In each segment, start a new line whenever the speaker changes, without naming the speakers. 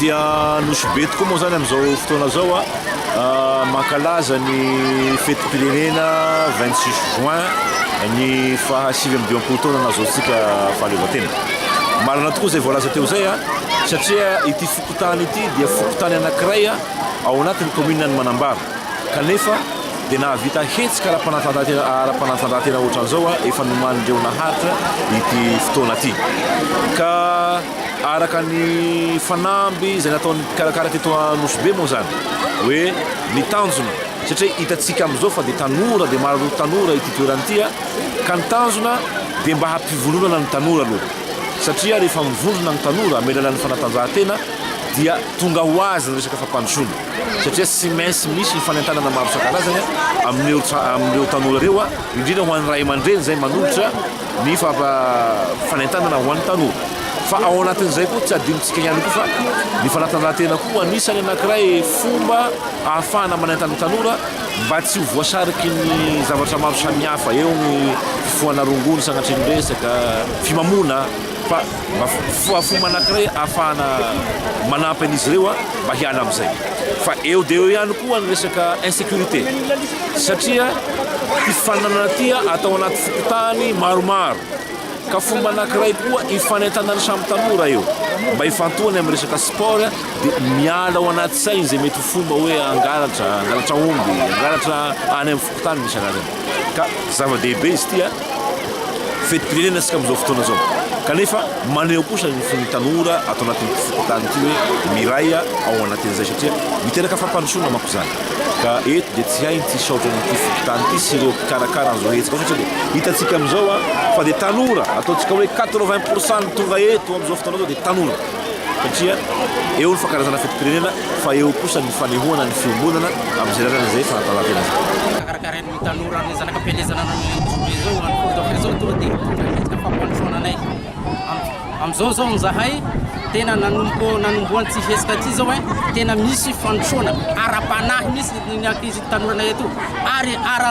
Dia Nosy Be tokoa moa izany amin'izao fotoana izao mankalaza ny fetim-pirenena vingt six juin ny faha sivy amby dimampolo taona nahazoantsika fahaleovantena. Marina tokoa izay voalaza teo izay satria ity fokontany ity dia fokontany anankiray ao anatin'ny kaominina ny Manambara kanefa dia nahavita hetsika ara-panatanjahantena ohatran'izao efa nomanin'ireo naharitra ity fotoana ity ka Araka ny fanamby izay nataon'ny mpikarakara teto Anosibe moa izany hoe ny tanjona, satria hitantsika amin'izao fa dia tanora dia maro tanora ity toerana ity ka ny tanjona dia mba hampivondronana ny tanora aloha satria rehefa mivondrona ny tanora amin'ny alalan'ny fanatanjahantena dia tonga ho azy ny resaka fampandrosoana satria tsy maintsy misy ny fanentanana maro isan-karazany amin'ireo amin'ireo tanora ireo indrindra ho an'ny ray aman-dreny izay manolotra ny fampanaintainana ho an'ny tanora. Fa ao anatin'izay koa tsy adinontsika ihany koa fa ny fanatanjahantena koa anisan'ny anankiray fomba ahafahana manaintana ny tanora mba tsy ho voasariky ny zavatra maro samihafa eo ny fifohana rongony sanatria ny resaka fimamoana. Fa mba fo fomba anankiray ahafahana manampy an'izy ireo mba hiala amin'izay. Fa eo dia eo ihany koa ny resaka insécurité. Satria fifaninanana ity atao anaty fokontany maromaro. Ka fomba anankiray koa ifanentanan'ny samy tanora eo. Mba ifantohany amin'ny resaka sport dia miala ao anaty sainy izay mety ho fomba hoe hangalatra, hangalatra omby, hangalatra any amin'ny tany misy anarany ka zava-dehibe izy ity an fetim-pirenena isika amin'izao fotoana izao kanefa maneho kosa ny fon'ny tanora ato anatin'ny fokontany ity hoe miray ao anatin'izay satria miteraka fampandrosoana manko izany ka eto dia tsy hay ny tsy saotra an'ity fokontany ity sy ireo mpikarakara an'izao hetsika satria dia hitantsika amin'izao an fa dia tanora ataontsika hoe 80 pourcent ny tonga eto amin'izao fotoana izao dia tanora satria eo ny fankalazana fetim-pirenena fa eo kosa ny fanehoana ny fiombonana amin'izay lalana izay fanatanjahantena izay. Karakarain'ny tanora
ny zanaka am-pielezana anao Joe izao, an'i Paul Dofre izao tonga dia tokony hihetsika ny fampandrosoana anay. Am- Amin'izao izao izahay tena nanompo nanomboha an'ity hetsika ity izao eh, tena misy fandrosoana ara-panahy misy ny ankizy tanoranay etoa ary ara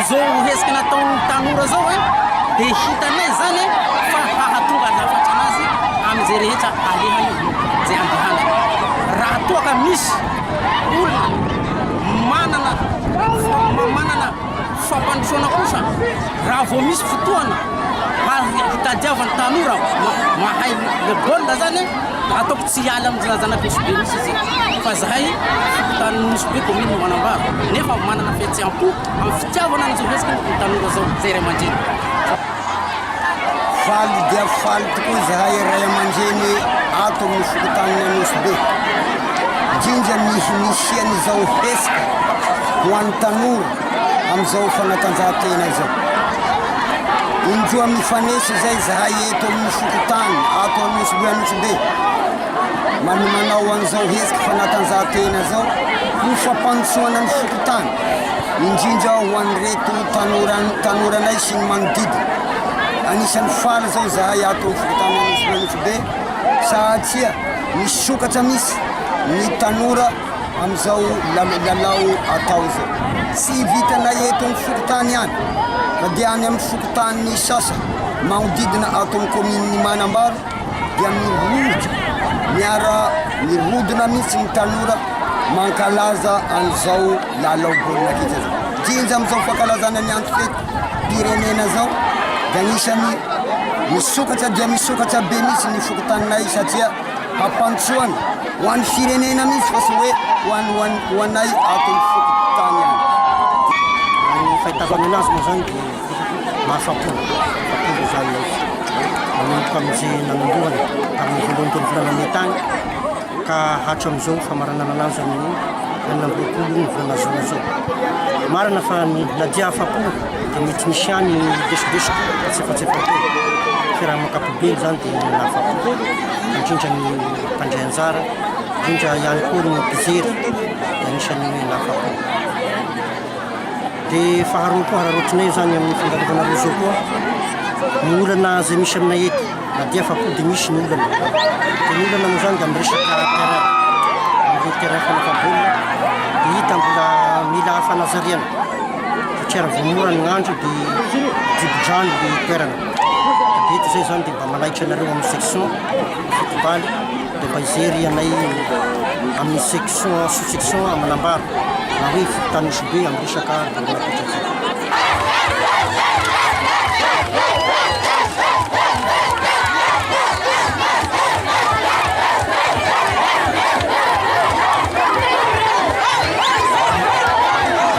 Izao hetsika nataon'ny tanora izao e, dia hitanay izany fa hahatonga lafatra an'azy amin'izay rehetra alehany izay andehanany. Raha toa ka misy olona manana manana fampandrosoana kosa, raha vao misy fotoana hitadiavan'ny tanora mahay baolina izany e, ataoko. Tsy hiala amin'ny zanazanako Nosy-Be mihitsy izy eto fa zahay fokontany Nosy-Be commune no manambaro nefa manana fihetseham-po amin'ny fitiavana an'izao resaka ny tanora izao izay ray aman-dreny.
Faly dia faly tokoa izahay ray aman-dreny ato amin'ny fokontany Nosy-Be indrindra ny nisian'izao hetsika ho an'ny tanora. amin'izao fanatanjahantena izao. Indroa mifanesy izay izahay eto amin'ny fokontany ato Anosibe Anosibe manomanao an'izao hetsika fanatanjahantena izao ho fampandrosoana ny fokontany indrindra ho an'ireto tanoranay sy ny manodidina. Anisan'ny faly izao izahay ato amin'ny fokontany Anosibe Anosibe satria misokatra misy ny tanora Amin'izao lalao atao izao, tsy vitanay eto amin'ny fokontany ihany fa dia any amin'ny fokontany sasany manodidina ato amin'ny kaominin'i Manambaro dia mirodona, miara mirodona mihitsy ny tanora mankalaza an'izao lalao baolina kitra izao. Jinja amin'izao fankalazana ny antom-pirenena izao dia anisan'ny misokatra dia misokatra be mihitsy ny fokontaninay satria. Fampandrosoana ho an'ny firenena mihitsy fa tsy hoe ho an'ny ho an'ny ho anay ato amin'ny fokontany ihany. Raha ny
fahitako azy moa izany dia mahafapo, mahafapo izany izy. Manomboka amin'izay nanombohany tamin'ny voalohany tamin'ny volana Mey tany ka hatramin'izao famaranana anazy amin'ny enina amby roapolo ny volana Jona izao. Marina fa ny na dia afapo Dia mety misy ihany lesolesoka na tsiefatsefan-tena. Fa raha amin'ny ankapobeny izany dia nahafapo indrindra ny mpandray anjara, indrindra ihany koa ny mpijery dia anisan'ny nahafapo. Dia faharoa koa hararaotinay izany amin'ny fandalovana roseau koa ny olana izay misy aminay eto na dia afapo dia misy ny olana. Dia ny olana moa izany dia amin'ny resaka terrain, amin'ireo terrain fanaovam-baolina dia hita mbola mila fanazariana. Vokera vao mora ny andro dia jibo-drano ny toerana. Dia eto izay izany dia mba manaitra anareo amin'ny section football dia mba hijery anay amin'ny section sous-section Amanambaro na hoe Tanosibe amin'ny resaka baolina kitra izay.